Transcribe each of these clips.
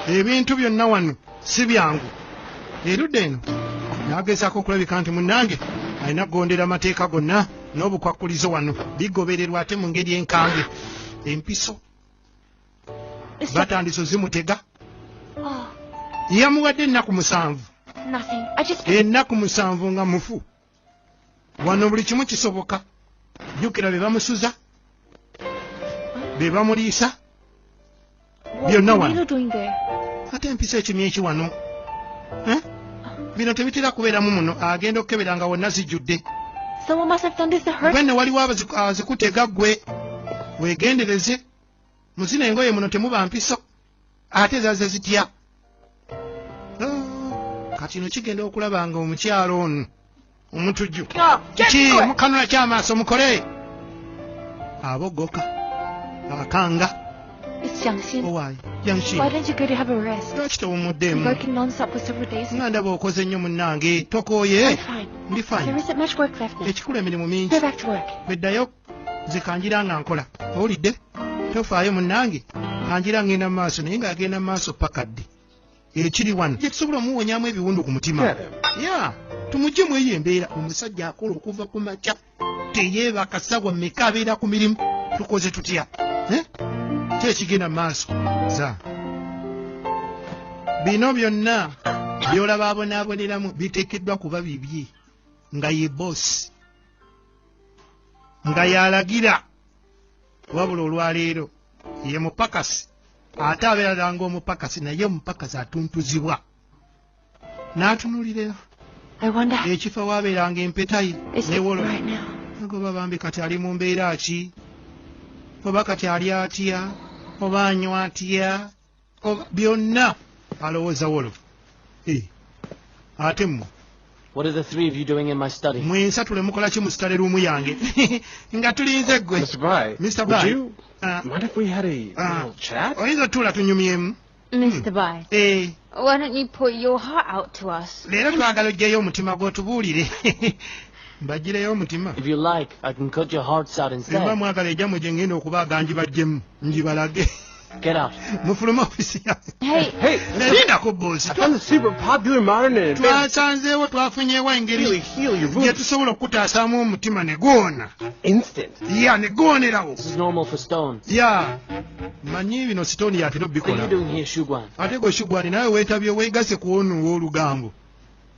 ebintu byonna wano si byangu erudda eno nagezaako okulabika nti munnange alina kugondera amateeka gonna n'obukwakkulizo wano bigobererwa ate mu ngeri enkange empiso batandise ozimutega ah. yamuwadde ennaku musanvu ennaku musanvu nga mufu wano buli kimu kisoboka jukira bebamusuza bebamuliisa byonna wano ate empisa ekimya eki wano eh? bino tebitera kubeeramu muno agenda okukebera nga wonna zijjudde bwenne waliwo azikutega gwe wegendereze muzina engoye muno temuba mpiso ate zaze zitya ah, kati no kigenda okulaba nga omukyalo ono omutujju ki mukanula kyamaaso mukole abogoka akanga lwaki tewumuddeemu nga ndaba okoze nnyo munnange tokooye ndi fine ekikulu emirimu mingi beddayo nze kangira nga nkola owulidde tofaayo munnange kangira ngenda mu maaso naye ng'agenda mu maaso paka ddi ekiri wano kyetusobola omuwonyamu ebiwundu ku mutima ya tumugye mu eyo embeera omusajja akola okuva ku makya teyeebaka sawa meka abeera ku mirimu tukoze tutya eh? kyekigenda mu maaso za bino byonna byolaba abonaaboneramu biteekeddwa kuba bibye nga ye boosi nga yalagira wabula olwaleero ye mupakasi ate abeera langa omupakasi naye omupakasi atuntuzibwa n'atunulira ekifo wabeeranga empeta ye newolola agoba bambi kati ali mu mbeera ki oba kati ali atya oba anywa atya byonna alowooza wolo eh, ate mwe mwensatule mukola ki mu sitale luumu yange nga tulinze gwe ah. ah. oyinza otuula tunyumyemu Mr. Bai, eh. why don't you pour your heart out to us? Leero twagala oggyeyo omutima gw'otubuulire. Mbaggyireyo omutima. If you like, I can cut your hearts out instead. Mba mwagala ejja mwe gye ngenda okuba agangi bajjemu ngibalage. Get out. mufuluma ofisi yange Hey, Hey, linda ku boozi I found the secret of Pop Dealer Modern and Advanced. twasanzeewo twafunyeewo Heal, engeri heal your gye wounds. tusobola okukutaasaamu omutima ne guwona Instant. ya ne guwonerawo This is normal for Stone. ya manyi bino sitooni yatera What are you obikola doing here, Shugwan? ate gwe shugwani nawe weetabye weegase ku ono ow'olugambo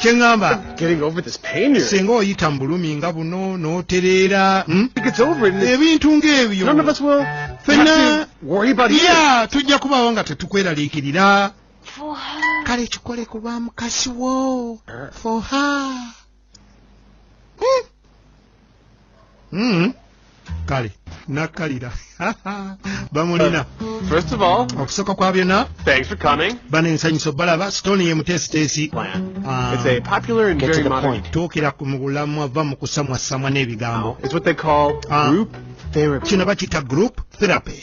kyeŋŋamba singa oyita mu bulumi nga buno n'otereera hmm? ebintu ng'ebyo fena ya tujja kubawo nga tetukweraliikirira kale kikole ku lwa mukasi wo uh. foha Mm. kale nakkalira bamulina First of all, okusooka kwa byonna thanks for coming. bano ensanyuso balaba stone ye muteesiteesi Ah, It's a popular and very modern. tuukira ku mu bulamwa va mu kusamwassamwa n'ebigambo It's what they call Ah. group therapy. kino bakiyita group therapy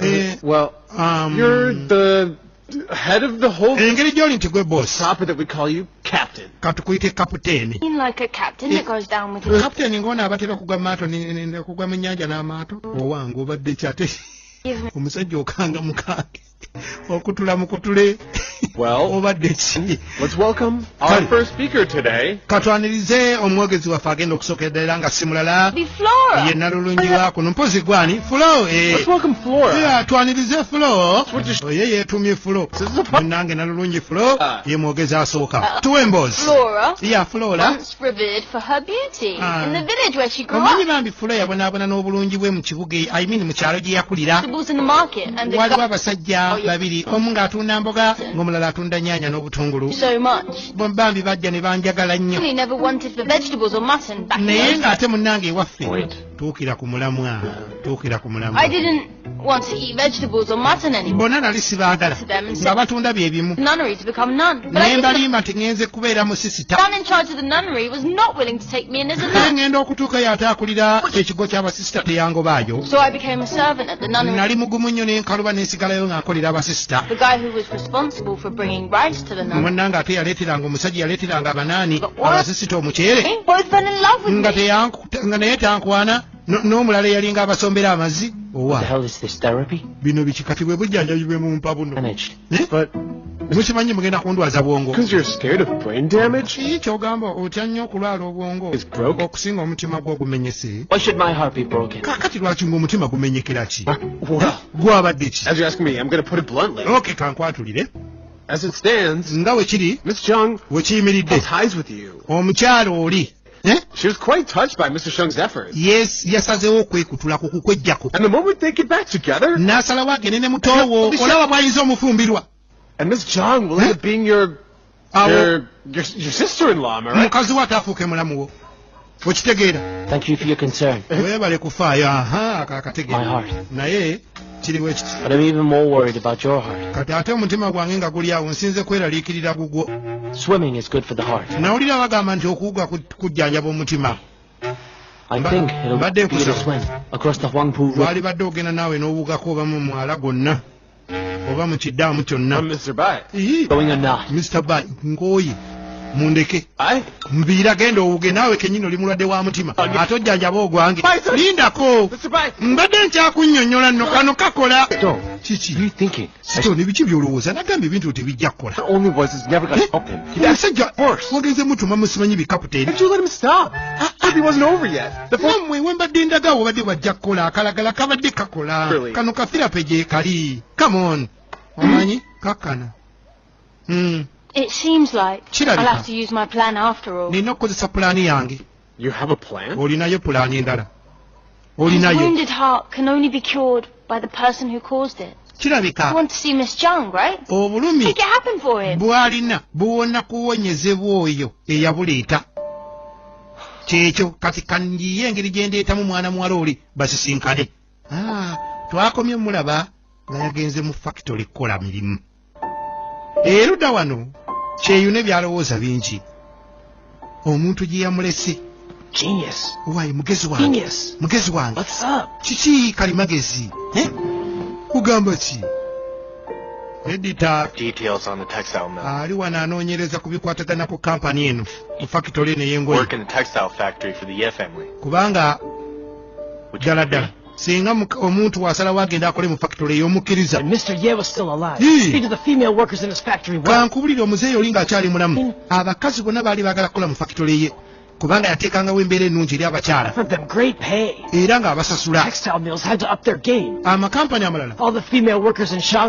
Eh, well, um, you're the head of the whole engeri gyoli nti gwe boss katukuyite kaputeni kaputeni ngaona abatera kugwa maato kugwa mu nyanja n'amaato owange obadde kyate omusajja okanga mukange okutula mukutule obadde ki katwanirize omwogezi waffe agenda okusookerera nga simulala ye nalulungi wa kuno mpozi gwani fulo eh. twanirize fulo oye yeetumye fulo munange nalulungi fulo ah. ye mwogezi asooka ah. tuwe emboozi ya fulola revered for her beauty ah. in the village where she grew up. Omanyi bambi fula yabonaabona n'obulungi bwe mu kibuga I mean mu kyalo gye yakulira. Waliwo abasajja oh, babiri omu ng'atunda mboga ng'omulala atunda nyaanya n'obutungulu. So much. Bambi bajja ne banjagala nnyo. He never wanted for vegetables or mutton back Naye ng'ate munnange ewaffe. Tuukira ku mulamwa. Tuukira ku mulamwa. I didn't want to eat vegetables or mutton anymore. bona nali sibaagala nga batunda bye bimu ne mbalimba nti ŋŋenze kubeera musisita naye ŋŋenda okutuuka yo ate akulira ekigo ky'abasisita teyangobaayo nali mugumu nnyo n'enkaluba n'ensigalayo ng'akolera abasisita munnanga ate yaleeteranga omusajja yaleeteranga abanaani abasisita omuceere nga naye tankwana n'omulala eyalinga abasombera amazi owa bino bikikati bwe bujjanjabi bwe mumpa buno mukimanyi mugenda kundwaza bwongo kyogamba otya nnyo okulwala obwongo okusinga omutima gwo ogumenyese kakati lwaki nga omutima gumenyekera ki gwabadde ki oke kankwatulire nga wekiri wekiyimiridde omukyalo oli Eh? She was quite touched by Mr. Shung's efforts. Yes, yasazeewo okwekutulako kukwejjako. And the moment they get back together, n'asalawo agende ne muto wo olaba bw'ayinza omufumbirwa. And Miss Chung will end up eh? being your your your, your sister-in-law, am I right? Mukazi wo ataafuuke mulamu wo. Okitegeera. Thank you for your concern. Weebale kufaayo. Aha, akategeera. My heart. Naye kiri bwe kiti But I'm even more worried about your heart. kati ate omutima gwange nga guli awo nsinze kweraliikirira gugwo Swimming is good for the heart. nawulira bagamba nti okuwuga ku- kujjanjaba omutima I Ba- think it'll but they be able to could- swim across the Huangpu River. lwalibadde ogenda naawe n'owugako oba mu mwala gwonna oba mu kiddaamu kyonna Mr. Bai. Ii, Going or not. mr bay nkooye mundeke mbiira genda owuge naawe kenyini oli mulwadde wa mutima ate ojjanjaba ogwange lindako mbadde nkyakunyonyola no kano kakola nebiki byolowooza nagamba ebintu o tebijja kukola omusajja wagenze mutuma musimanyi bikaputeni namwe wembadde ndaga wobadde bwajja kukola akalagala kabadde kakola kano kafirape gyekali come on omanyi kakana Mm. It seems like I'll have to use my plan after all. Nina okukozesa pulaani yange. You have a plan? Olinayo pulaani endala. Olinayo. His wounded heart can only be cured by the person who caused it. kirabika obulumi bwalina buwona kuwonyezebwa oyo eyabuleeta kyekyo kati kanyiye engeri gyendeetamu mwana muwala oli basisinkane ah, twakomye mulaba nga yagenze mu fakitole kukola mirimu eruda wano kyeyune byalowooza bingi omuntu gye yamulese wayi mugezi wange mugezi wange kiki kali magezi kugamba ki edita ali wano anoonyereza ku bikwatagana ku kampani eno mu fakitole eno yengoye kubanga ddala ddala singa omuntu wasalawo agenda akole mu factory eyomukkiriza kankubulire omuzeeyi oli nga akyali mulamu abakazi bonna baali bagala kukola mu factory ye kubanga yateekangawo embeera ennungi eri abakyala era ng'abasasula amakampani amalala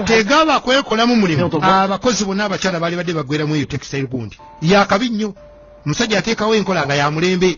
tegaba kwekolamu mulimu abakozi bonna abakyala baali badde bagweramu eyo textile gundi yakabi nnyo omusajja ateekawo enkola nga ya mulembe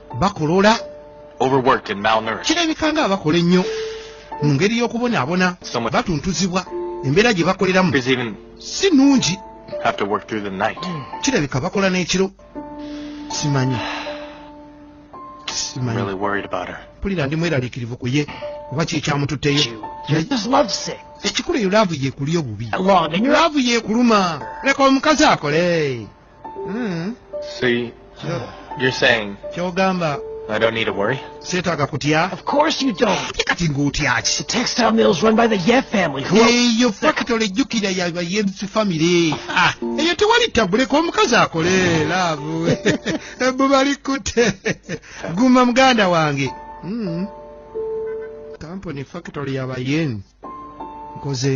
bakolola kirabika nga abakola ennyo mu ngeri y'okubonaabona batuntuzibwa embeera gye bakoleramu si nnungi kirabika bakola n'ekiro simanyi pulira ndi mweraliikirivu ku ye oba kyekyamututteyo ekikulu eyo laavu yeekuli obubi laavu yeekuluma leka omukazi akole Hmm. So you, you're saying kyogamba I don't need to worry? Seetaaga kutya? Of course you don't. Kati ng'otya ki? The textile mill is run by the Yeh family. Who Eyo factory jjukira ya ba Yems family. Ah, eyo tewali tabuleko omukazi akole laavu. Ebbu bali kutte. Guma muganda wange. Mm. Kampuni factory ya ba Yems. Nkoze